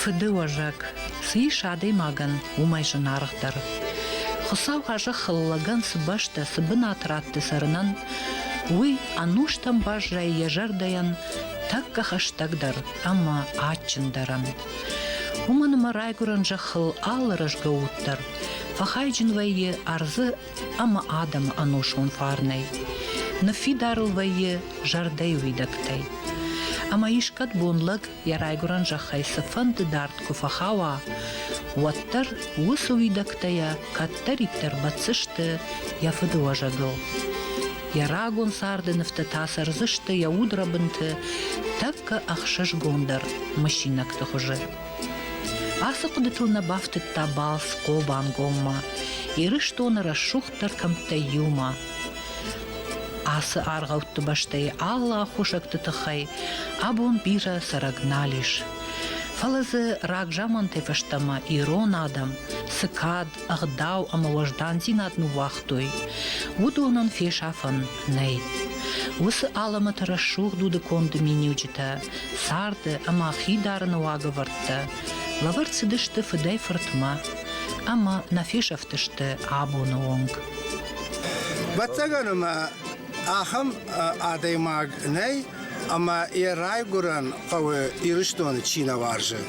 Фыдыуӕзӕг, цы ис адӕймагӕн, уымӕй зынаргъдӕр. Хуыцау а зӕххыл лӕгӕн цы бӕстӕ, цы бынат ратты цӕрынӕн, уый ӕнустӕм баззайы йӕ зӕрдӕйӕн тӕккӕ хӕстӕгдӕр ӕмӕ адджындӕрӕн. Уымӕн ӕмӕ райгуырӕн зӕххыл алы рӕзгӕ уд дӕр фӕхайджын вӕййы ӕрдзы ӕмӕ адӕмы ӕносон фарнӕй. Ныффидарыл вӕййы зӕрдӕйы уидӕгтӕй. Ӕмӕ искӕд бон лӕг йӕ райгуырӕн зӕххӕй цыфӕнды дард куы фӕхауа, уӕддӕр уыцы уидӕгтӕ йӕ кӕддӕриддӕр бӕтдзысты йӕ фыды уӕзӕгыл. Йӕ рагон царды нывтӕ та цӕрдзысты йӕ удрӕбынты тӕккӕ ӕхсызгондӕр мысинӕгты хуызы. Ацы хъуыдытыл нӕ бафтыдта балц Хъобангоммӕ, Ирыстоны рӕсугъддӕр кӕмттӕй иумӕ. Ацы аргъӕутты бӕстӕйы алы аххосӕгты тыххӕй абон бирӕ цӕрӕг нал ис. Фӕлӕ дзы рагзамантӕй фӕстӕмӕ ирон адӕм цы кад, ӕгъдау ӕмӕ уӕздандзинад ныууагътой, уыдонӕн фесӕфӕн нӕй. Уыцы алӕмӕты рӕсугъд удыконды миниуджытӕ, царды ӕмӕ хидарыны уагӕвӕрдтӕ лӕвӕрд цыдысты фыдӕй-фыртмӕ ӕмӕ нӕ фесӕфтысты абоны онг. Вӕццӕгӕн ӕмӕ ахӕм адӕймаг нӕй, ӕмӕ йӕ райгуырӕн хъӕуы Ирыстоны чи нӕ уарзы.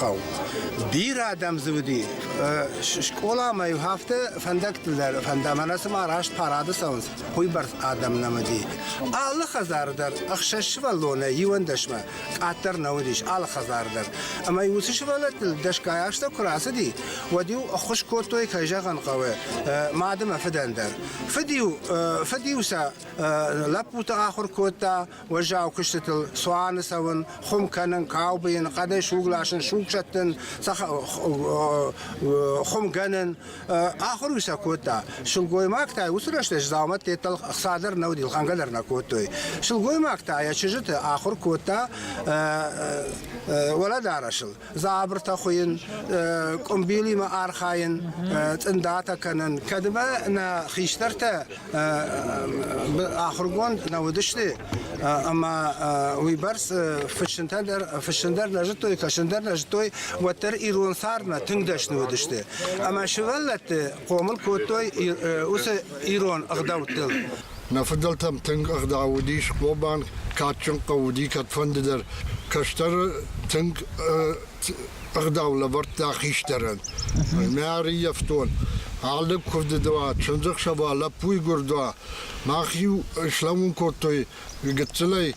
хъӕу. Бирӕ адӕм дзы уыди. Скъоламӕ-иу афтӕ фӕндӕгтыл дӕр фӕндӕм, ӕнӕ цыма раст парады цӕуынц, уыйбӕрц адӕм нӕм уыди. Алы хӕдзары дӕр ӕхсӕз сывӕллонӕй иуӕндӕсмӕ къаддӕр нӕ уыдис алы хӕдзары дӕр. Ӕмӕ-иу уыцы сывӕллӕттыл дӕсгай азтӕ куы рацыди, уӕд-иу ӕххуыс кодтой, кӕй зӕгъын хъӕуы, мады мӕ фыдӕн дӕр. Фыд-иу, фыд-иу сӕ лӕппуты ахуыр кодта, уӕззау куыстытыл цуаны цӕуын, хуым кӕнын, каубыйын, хъӕдӕй суг ласын, суг сӕттын, хуымгӕнын. Ахуыр уый сӕ кодта. Сылгоймӕгтӕ уыцы рӕстӕджы дзаумӕттӕ хца дӕр нӕ уыди, лхӕнгӕ дӕр нӕ кодтой. Сылгоймӕгтӕ йӕ чызджыты ахуыр кодта уӕлӕдарӕсыл. дзабыртӕ хуыйын, къуымбилимӕ архайын, цъындатӕ кӕнын. Кӕдмӕ нӕ хистӕртӕ ахуыргонд нӕ уыдысты, ӕмӕ уыйбӕрц фыссынтӕ дӕр, фыссын дӕр нӕ зыдтой, кӕсын дӕр нӕ зыдтой, уӕддӕр ирон цармӕ тынг дӕсны уыдысты. Ӕмӕ сывӕллӕтты хъомыл кодтой уыцы ирон ӕгъдӕуттыл. Нӕ фыдӕлтӕм тынг ӕгъдау уыдис, Хъобан кадджын хъӕу уыди кӕдфӕндыдӕр. Кӕстӕры тынг ӕгъдау лӕвӕрдта хистӕрӕн. Мӕ ӕрыййӕфтон, алы куывды уа, чындзӕхсӕв уа, лӕппуйы гуырд уа. Мах-иу слӕууын кодтой гыццылӕй,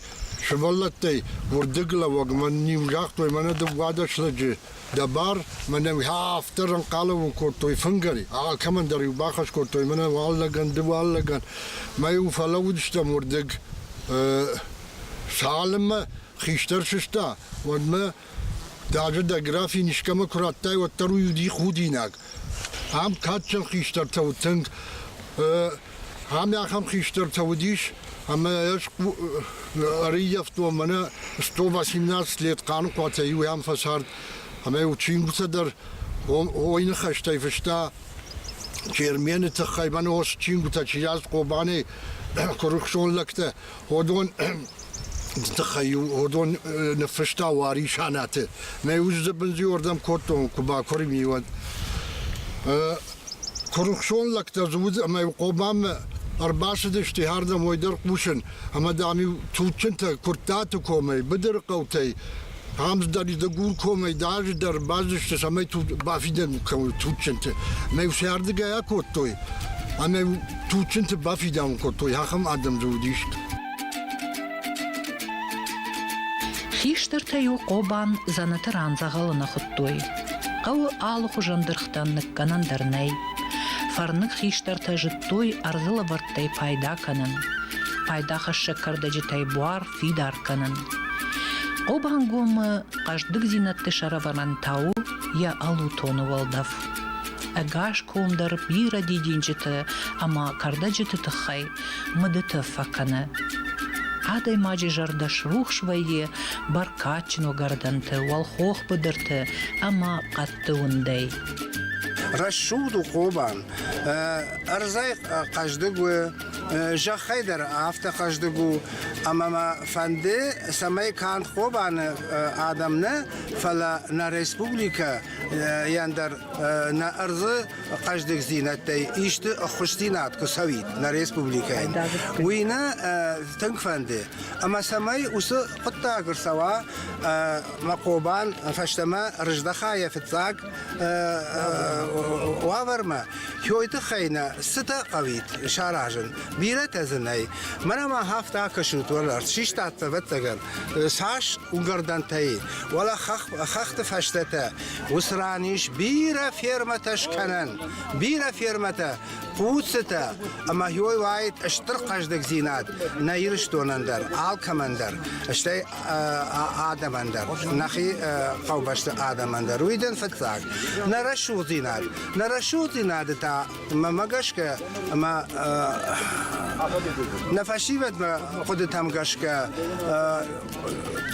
сывӕллӕттӕй, уырдыглӕууӕг мӕн-иу загътой мӕнӕ дыууадӕс лӕджы. дӕ бар, мӕнӕ афтӕ ӕнхъӕлӕн кодтой фынгӕй, алкӕмӕн дӕр-иу бахӕс кодтой, мӕнӕ уӕллӕгӕн, ды уӕллӕгӕн, мӕ-иу фӕлӕууыдыстӕм уырдыг. Цалынмӕ хистӕр сыста, уӕдмӕ даже дӕ графин искӕмӕ куы радтай, уӕддӕр уый уыди худинаг. Ам кадджын хистӕртӕ уыд тынг. Ам ахӕм хистӕртӕ уыдис, ӕмӕ ӕз ӕрыййӕфтон мӕнӕ 118 лет Хъаныхъуатӕй иу ӕм фӕцард, ӕмӕ-иу чингуытӕ дӕр ойныхӕстӕй фыста, Чермены тыххӕй мӕн ос чингуытӕ чи радт Хъобанӕй, куырыхсон лӕгтӕ, уыдон тыххӕй-иу уыдон ныффыста Уари Санаты. Мӕ ус бынзиуырдӕм кодтон, куы бакурын и, уӕд. Куырыхсон лӕгтӕ дзы уыд ӕмӕ Хъобаммӕ ӕрбацыдысты хӕрдӕм ой дӕр хъусын, ӕмӕ дам-иу туджджынтӕ Куырттаты комӕй, быдыры хъӕутӕй ӕмдӕр дӕ гуркомӕй даже дӕр базысты, цӕмӕй бафидӕн кӕуы туджджынты. Мӕ фсӕрдыгӕй акодтой, ӕмӕ туджджынты бафидауын кодтой, ахӕм адӕм дзы уыдис. Хистӕртӕ-иу Хъобан дзӕнӕты ран дзӕгъӕлы нӕ хуыдтой. Хъӕуы алыхуызон дыргътӕн ныккӕнӕн дӕр нӕй. Фӕрныг хистӕртӕ зыдтой ӕрдзы лӕвӕрттӕй пайда кӕнын. Пайдахӕссӕг кӕрдӕджытӕй буар фидар кӕнын. Хъобангомы хъӕздыгдзинӕдты сӕрӕвӕрӕн та у йӕ алутоны уӕлдӕф. Ӕгас ком дӕр бирӕ дидинджыты ӕмӕ кӕрдӕджыты тыххӕй мыдыты фӕкӕны. Адӕймаджы зӕрдӕ срухс вӕййы бӕркадджын уыгӕрдӕнты, уӕлхох быдырты ӕмӕ хъӕдты уындӕй. Рӕсугъд у Хъобан. Ӕрдзӕй хъӕздыг у Зӕххӕй дӕр афтӕ хъӕздыг у, ӕмӕ мӕ фӕнды, цӕмӕй канд Хобаны адӕм нӕ, фӕлӕ нӕ республикӕ дӕр нӕ ӕрдзы хъӕздыгдзинӕдтӕй исты ӕххуысдзинад куы цӕуид нӕ республикӕйӕн. Уый нӕ тынг фӕнды, ӕмӕ цӕмӕй уыцы хъуыддаг ӕрцӕуа мӕ Хъобан фӕстӕмӕ рыздӕха йӕ фыццаг уавӕрмӕ хойы тыххӕй нӕ цытӕ хъӕуид саразын. Бирӕтӕ дзы нӕй. Мӕнӕ ма хафта акӕсут уӕларт, систат ӕвӕццӕгӕн, цас уынгӕрдӕнтӕй, уӕлӕ хӕхты фӕстӕтӕ. Уыцы ран ис бирӕ фермӕтӕ скӕнӕн, бирӕ фермӕтӕ, хъуцытӕ, ӕмӕ хой уаид стыр хъӕздыгдзинад нӕ Ирыстонӕн дӕр, алкӕмӕн дӕр. Стӕй адӕмӕн дӕр, нӕхи хъӕубӕсты адӕмӕн дӕр уиден фыццаг. Нӕ рӕсугъддзинад. Нӕ рӕсугъддзинады та мӕмӕ гӕсгӕ ӕмӕ нӕ фӕсивӕдмӕ хъуыдытӕм гӕсгӕ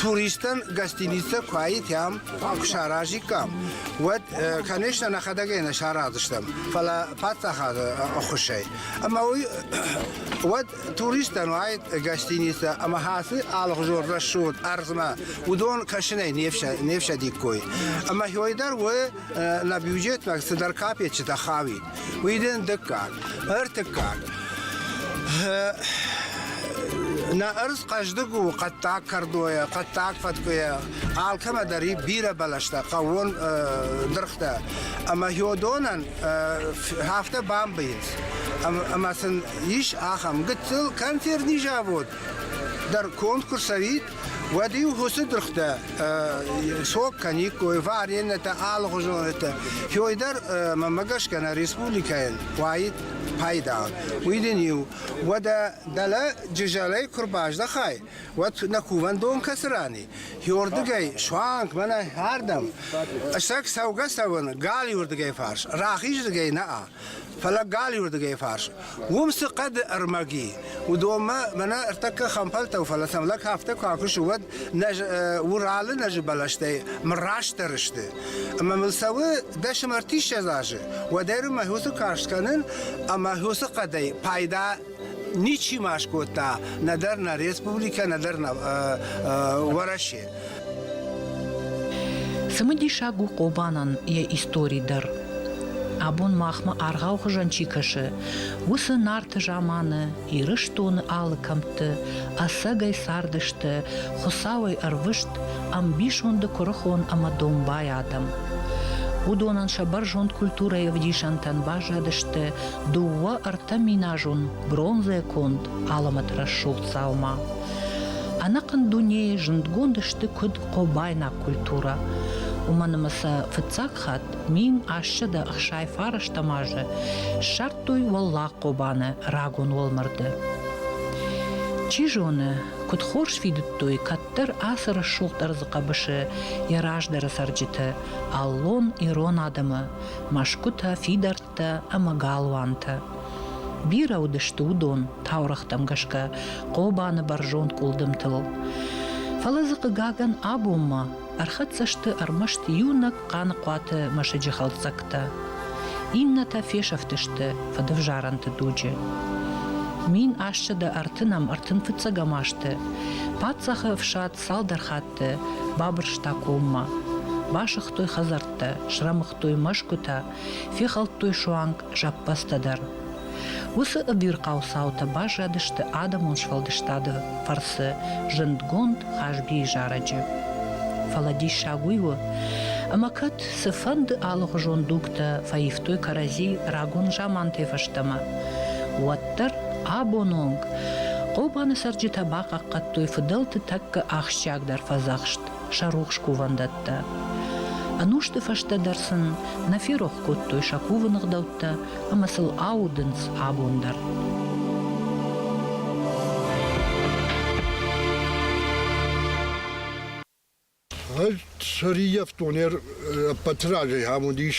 туристтӕн гостиницӕ куы аитӕм, куы саразиккам, уӕд, конечно, нӕхӕдӕгӕй нӕ сараздзыстӕм, фӕлӕ паддзахады ӕххуысӕй. Ӕмӕ уый уӕд туристтӕн уаид гостиницӕ ӕмӕ хацы алыгъуызон рӕсугъд ӕрдзмӕ уыдон кӕсынӕй не фсӕдиккой. Ӕмӕ хой дӕр уы нӕ бюджетмӕ цыдӕр капеччытӕ хауид. Уый дын дыккаг. Ӕртыккаг. Нӕ ӕрдз хъӕздыг у хъӕддаг кӕрдойӕ, хъӕддаг фӕткъуйӕ, алкӕмӕ дӕр и бирӕ бӕлӕстӕ, хъӕууон дыргътӕ. Ӕмӕ хьодонӕн афтӕ бамбыйынц. Ӕмӕ сын Ис ахӕм гыццыл концертный завод дӕр конкурс цӕуид, уӕд-иу хусы дыргътӕ сог кӕниккой, вареннӕтӕ, алыгъуызонӕтӕ. Хёй дӕр, мӕмӕ гӕсгӕ, нӕ республикӕйӕн уаид пайда. Уый дын-иу уӕдӕ дӕлӕ джызӕлӕй куы рбаздӕхай, уӕд нӕ кувӕндон кӕцы рани? Хёрдыгӕй суанг мӕнӕ ардӕм, сӕг цӕугӕ-цӕуыны галиуырдыгӕй фарс, рахиздзыгӕй нӕ-а. Фӕлӕ галиуырдыгӕй фарс. Уым цы хъӕды ӕрмӕг и, уыдонмӕ мӕнӕ ӕртӕккӕ хӕмпӕлтау, фӕлӕ сӕм лӕг афтӕ куы акусы, уӕд нӕ Уралы нӕзы бӕлӕстӕй мыр растдӕр сты. Ӕмӕ мыл цӕуы дӕсӕм ӕртиссӕдз азы, уӕд ӕрмӕг уыцы карст кӕнын ӕмӕ уыцы хъӕдӕй пайда Ничи ма скодта нӕдӕр нӕ республикӕ, нӕдӕр нӕ Уӕрӕсе. Цымыдисаг у Хъобанӕн йӕ истори дӕр. Абон махмӕ аргъау хуызӕн чи кӕсы, уыцы Нарты заманы, Ирыстоны алы кӕмтты ӕцӕгӕй цардысты Хуыцауӕй ӕрвыст ӕмбисонды куырыхон ӕмӕ домбай адӕм. Уыдонӕн сӕ бӕрзонд культурӕйы ӕвдисӕнтӕн баззадысты дууӕ-ӕртӕминазун бронзӕконд алӕмӕтрӕсугъд дзаума. Ӕнӕхъӕн дунейы зундгонд сты куыд хъобайнаг культурӕ. Уымӕн ӕмӕ сӕ фыццаг хатт мим ассӕ дӕ хсай фарӕстӕм азы ссардтой Уӕллаг Хъобаны рагон уӕлмӕрды. Чи зоны, куыд хорз фидыдтой кӕддӕр ацы рӕсугъд ӕрдзы хъӕбысы йӕ раздӕры цӕрджыты, аллон ирон адӕмы, мӕсгуытӕ, фидӕрт тӕ ӕмӕ галуантӕ. Бирӕ уыдысты уыдон, таурӕгътӕм гӕсгӕ, Хъобаны бӕрзонд къуылдымтыл. Фӕлӕ дзы, хъыгагӕн, абонмӕ ӕрхӕццӕ сты ӕрмӕст иунӕг Хъаныхъуаты мӕсыджы хӕлддзӕгтӕ. Иннӕтӕ фесӕфтысты фӕдывзарӕнты дуджы. Мин ассӕдӕ ӕртынӕм ӕртын фыццӕгӕм азты паддзахы ӕфсад цалдӕр хатты бабырста коммӕ. Басыгътой хӕдзӕрттӕ, срӕмыгътой мӕсгуытӕ фехӕлдтой суанг зӕппӕдзтӕ дӕр. Уыцы ӕвирхъау цаутӕ баззадысты адӕмон сфӕлдыстады фӕрцы зындгонд Хазбийы зарӕджы. Фӕлӕ диссаг уый у, ӕмӕ кӕд цыфӕнды алыхуызон дугтӕ фӕивтой кӕрӕдзи рагон замантӕй фӕстӕмӕ, уӕддӕр абон онг Хъобаны цӕрджытӕ бахъахъхъӕдтой фыдӕлты тӕккӕ ахсджиагдӕр фӕдзӕхст сӕ рухс кувӕндӕттӕ. Ӕнусты фӕстӕ дӕр сын нӕ ферох кодтой сӕ кувы ныгъдӕуттӕ ӕмӕ сыл аудынц абон дӕр. Сӕрийӕфтонӕр ӕппӕты разӕй ам уыдис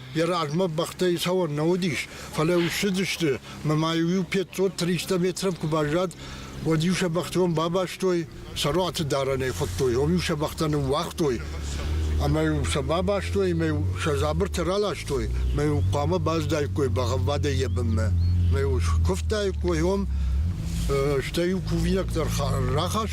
Йӕ размӕ бӕхтӕй цӕуӕн нӕ уыдис, фӕлӕ уссыдысты мӕ ма-иу 500-300 метров куы баззад, уӕд-иу сӕ бӕхтон бабастой, сӕ руаты дарӕнӕй хуыдтой, ом-иу сӕ бӕхтӕ ныууагътой. Ӕмӕ-иу сӕ бабастой, ӕмӕ-иу сӕ дзабыртӕ раластой, ӕмӕ-иу хъуамӕ баздаиккой бӕгъӕввадӕй йӕ бынмӕ. Ӕмӕ-иу скуывтаиккой ом, стӕй-иу кувинаг дӕр рахастой.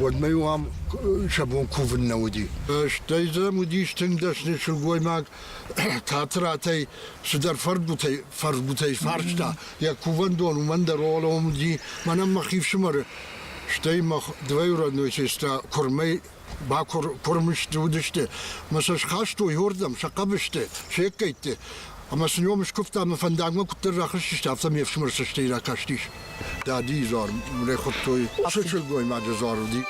уӕдмӕ-иу ам сӕ бон кувын нӕ уыди. Стӕй дзы уыдис тынг дӕсны сылгоймаг театратӕй цыдӕр фӕрдгуытӕй, фӕрсгуытӕй фарста. Йӕ кувӕндон уымӕн дӕр олом уыди, мӕнӕн мӕ хи фсымӕры. Стӕй мӕ дывӕй родной сестра куырмӕй бакуыр, куырм уыдысты, мӕ сӕ схастой уырдӕм, сӕ хъӕбысты, се ккӕйтты. Ӕмӕ сын ном скуывта ӕмӕ фӕндагмӕ куыддӕр рахызтысты, афтӕ ме фсымӕр цӕстӕй ракастис. Дадийы дзуар мын хуыдтой, уыцы сылгоймаджы дзуар уыди.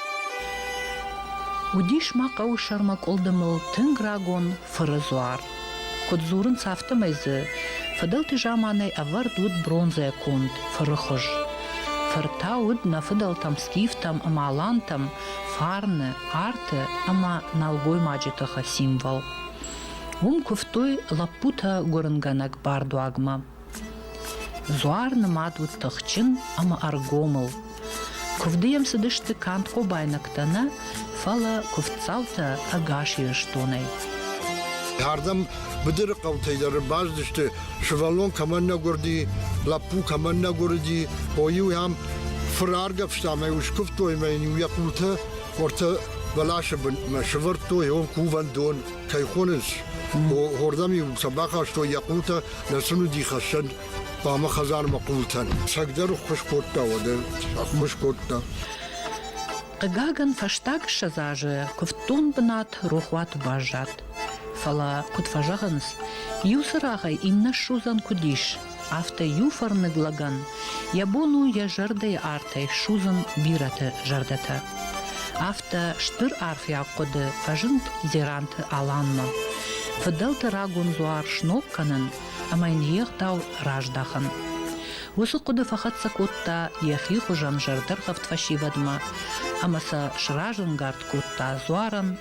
Уыдис ма хъӕуы сӕрмӕ къуылдымыл тынг рагон фыры дзуар. Куыд дзурынц, афтӕмӕй дзы фыдӕлты заманӕй ӕвӕрд уыд бронзӕ конд фыры хуыз. Фыр та уыд нӕ фыдӕлтӕм скифтӕм ӕмӕ алантӕм фарны, арты ӕмӕ нӕлгоймаджы тыхы символ. Уым куывтой лӕппутӕ гуырынгӕнӕг бардуагмӕ. Дзуар нымад уыд тыхджын ӕмӕ ӕргомыл. Куывды йӕм цыдысты канд хъобайнӕгтӕ нӕ, фӕлӕ куывддзаутӕ ӕгас Ирыстонӕй. Ардӕм быдыры хъӕутӕй дӕр ӕрбацыдысты, сывӕллон кӕмӕн нӕ гуырди, лӕппу кӕмӕн нӕ гуырди, хо-иу йӕм фыр аргӕвста мӕ иу скуывтой мӕ йын иу йӕ къулты Хорты бӕласы бынмӕ сывӕрдтой йон кувӕндон, кӕй хонынц. Хордӕм-иу сӕ бахастой йӕ хъултӕ, нӕ сын уыди хӕссӕн хъуамӕ хӕдзармӕ хъултӕн. Сӕгдӕр ххуыс кодта, уӕдӕ ххуыс кодта. Хъыгагӕн, фӕстаг ссӕдз азы куывддон бынат рохуаты баззад. Фӕлӕ, куыд фӕзӕгъынц, иу цырагъӕй иннӕ ссудзӕн куыд ис, афтӕ иу фӕрныг лӕгӕн йӕ бон у йӕ зӕрдӕйы артӕй судзын бирӕты зӕрдӕтӕ. Афтӕ стыр арфӕйаг хъуыды фӕзынд Дзеранты Аланмӕ. Фыдӕлты рагон дзуар сног кӕнын ӕмӕ йын йе гъдау раздахын. Уыцы хъуыды фӕхӕццӕ кодта йӕхи хуызӕн зӕрдӕргъӕвд фӕсивӕдмӕ ӕмӕ сӕ сразӕнгард кодта дзуарӕн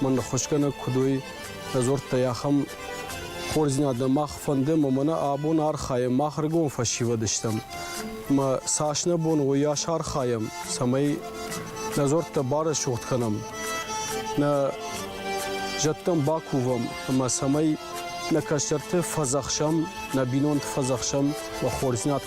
мӕ ныххуысгӕнӕг куыд уый, дзырдтӕй ахӕм хорздзинад мах фӕнды, ӕмӕ мӕнӕ абон архайӕм, мах ӕргом фӕсивӕд стӕм. Ӕмӕ цас нӕ бон уыйас архайӕм, цӕмӕй нӕ дзуӕрттӕ барӕсугъд кӕнӕм, нӕ зӕдтӕм бакувӕм, ӕмӕ цӕмӕй нӕ кӕстӕрты фӕдзӕхсӕм, нӕ бинонты фӕдзӕхсӕм, уӕ хорздзинад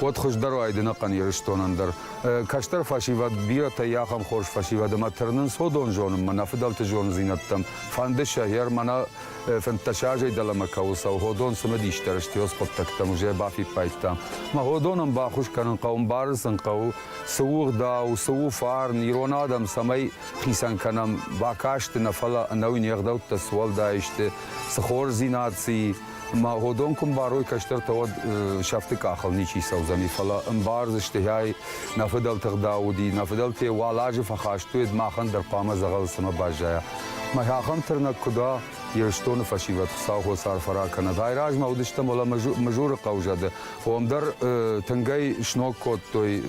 уӕд хуыздӕр уайдзӕн ӕхъӕн Ирыстонӕн дӕр. Кӕстӕр фӕсивӕд бирӕтӕ йӕ ахӕм хорз фӕсивӕд ӕмӕ тырнынц уыдон зонынмӕ нӕ фыдӕлты зондзинӕдтӕм, фӕнды сӕ, гьер мӕнӕ фынддӕсаазӕй дӕлӕмӕ кӕуыл цӕуы Ходон цымыдисдӕр стьос хъуыддӕгтӕм уже бафиппайдта. Мӕ Ходонӕн баххуыс кӕнын хъӕуы, мбарын сын хъӕуы, цы у ӕгъдау, цы у фарн, ирон адӕм цӕмӕй хицӕн кӕнӕм, бакасты нӕ, фӕлӕ ӕнӕуи не гъдӕуттӕ цы уӕлдай сты, цы хорздзинад, цы и. Ма гъодон куы мбарой кӕстӕртӕ, уӕд сӕфты къахыл ничи цӕудзӕни, фӕлӕ ӕмбардзысты, гьӕй, нӕ фыдӕлты гъдау уыди, нӕ фыдӕлтӕ уал азы фӕхӕст уыд, махӕн дӕр хъуамӕ дзӕгъӕл цӕмӕ баззайа. Мӕ ахӕм тырнӕг куыд уа, Ирыстоны фӕсивӕд Хуыцаухос арф ӕрӕ кӕнӕд. Айразмӕ уыдыстӕм уӕлӕ Мызуры хъӕузӕды, уым дӕр тынгӕй сног кодтой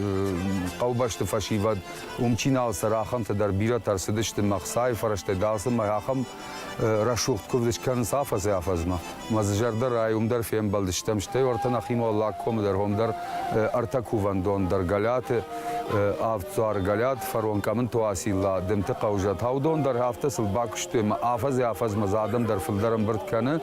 хъӕубӕсты фӕсивӕд, уым чи нал цӕры, ахӕмтӕ дӕр бирӕтӕ ӕрцыдысты мӕ хцайы фӕрӕзтӕй, дӕл сын мӕ ахӕм рӕсугъд кувдыч кӕнынц афӕдзӕй-афӕдзмӕ. Мӕ зӕрдӕ райы уым дӕр фембӕлдыстӕм, стӕй уӕртӕ нӕхимӕ Уӕллаг комы дӕр хом дӕр ӕртӕ кувӕндон дӕр Гӕлӕты авд дзуары Гӕлӕт, фарон Къӕмынты Уацилла, Дымты хъӕузӕ, Таудон дӕр афтӕ сыл бакуыстой ӕмӕ афӕдзӕй-афӕдзмӕ дзы адӕм дӕр фылдӕр ӕмбырд кӕны.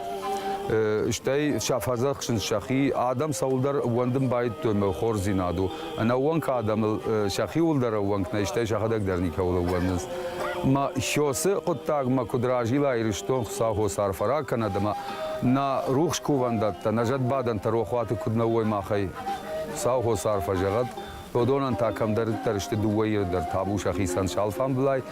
Стӕй сӕ фӕдзӕхсынц сӕхи, адӕм цӕуылдӕр ууӕндын баидтой мыл хорздзинад у. ӕнӕууӕнк адӕмыл сӕхиуыл дӕр ӕууӕнк нӕй, стӕй сӕхӕдӕг дӕр никӕуыл ӕууӕндынц. Ӕмӕ Сёсы хъуыддагмӕ куыд разила Ирыстон Хуыцауы хос арфӕ ракӕнӕд ӕмӕ нӕ рухс кувӕндӕттӕ, нӕ зӕдбадӕнтӕ рохуаты куыд нӕ уой махӕй Хуыцауы хос арфӕ зӕгъӕд. Додонӕн та кӕмдӕриддӕр сты дыууӕ Иры дӕр табу сӕхицӕн с алфамбылай.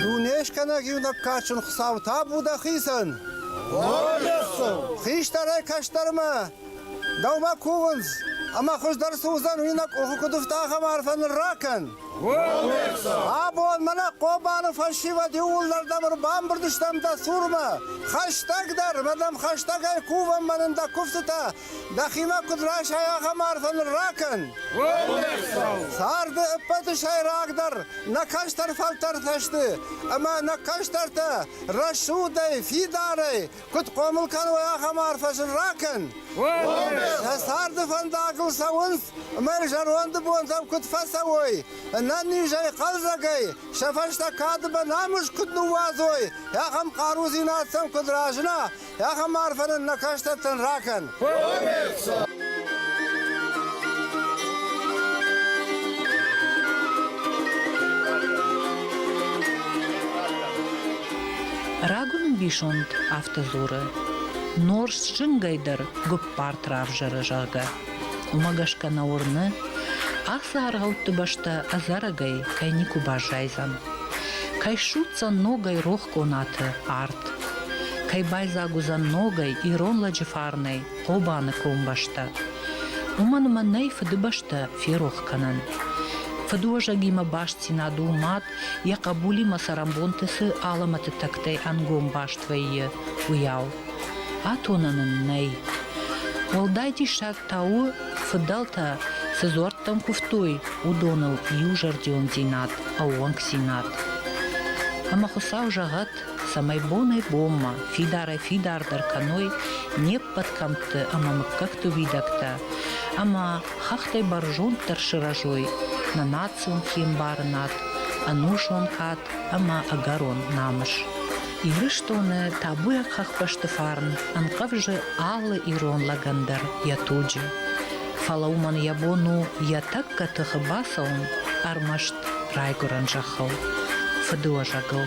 Дунескӕнӕг иунӕг кадджын Хуыцау табу дӕхицӕн! Хистӕрӕй кӕстӕрмӕ дӕумӕ кувынц, ӕмӕ хуыздӕр цы уыдзӕн, уый нӕ къухы куыд ӕфта, ахӕм арфӕ ныр ракӕн! Абон мӕнӕ Хъобаны фӕсивӕд иууылдӕрдӕм ӕрбамбырд стӕм дӕ цурмӕ. Хӕстӕгдӕр, мӕ дӕм хӕстӕгӕй кувӕм мӕнӕн дӕ куывдтытӕ Дӕхимӕ куыд расай ахӕм арфӕ нырракӕн! Царды ӕппӕты сӕйрагдӕр нӕ кӕстӕр фӕлтӕртӕ сты, ӕмӕ нӕ кӕстӕртӕ рӕсугъдӕй, фидарӕй куыд хъомыл кӕной ахӕм арфӕ сын ракӕн! Сӕ царды фӕндагыл цӕуынц ӕмӕ зӕронды бонтӕм куыд фӕцӕуой, ӕнӕнизӕй, хъӕлдзӕгӕй, сӕ фӕстӕ кады бынамыс куыд ныууадзой, ахӕм хъарудзинад сӕм куыд разына, Ахӕм арфӕнын нӕ хӕстӕгтӕн ракӕн! Коммерцо! Рагон ӕмбисонд афтӕ дзуры, нор зынгӕйдӕр гуыппарт равзӕры, зӕгъгӕ. Уымӕ гӕсгӕ нӕ уырны, ацы аргъӕутты бӕстӕ ӕдзӕрӕгӕй кӕй никуы баззайдзӕн. Кӕй ссудздзӕн ногӕй рох къонаты арт, кӕй байдзаг уыдзӕн ногӕй ирон лӕджы фарнӕй Хъобаны комбӕстӕ. Уымӕн ӕмӕ нӕй фыдыбӕстӕ ферох кӕнӕн. Фыдуӕзӕгимӕ бастдзинад у мад, йӕ хъӕбулимӕ цӕрӕнбонты цы алӕмӕты тӕгтӕй ӕнгом баст вӕййы, уыйау. Атонӕн ын нӕй. Уӕлдай диссаг та у, фыдӕлтӕ цы дзуӕрттӕм куывтой, уыдоныл иузӕрдиондзинад, ӕууӕнкдзинад. Ӕмӕ Хуыцау зӕгъӕд, цӕмӕй бонӕй-бонмӕ фидарӕй-фидардӕр кӕной не ппӕт кӕмтты ӕмӕ мыггӕгты уидӕгтӕ ӕмӕ хӕхтӕй бӕрзонддӕр сырӕзой нӕ национ хиӕмбарынад, ӕнузон кад ӕмӕ ӕгӕрон намыс. Ирыстоны табуйаг хӕхбӕсты фарн ӕнхъӕвзы алы ирон лӕгӕн дӕр йӕ туджы. Фӕлӕ уымӕн йӕ бон у йӕ тӕккӕ тыхы бацӕуын ӕрмӕст райгуырӕн зӕххыл, фыдыуӕзӕгыл.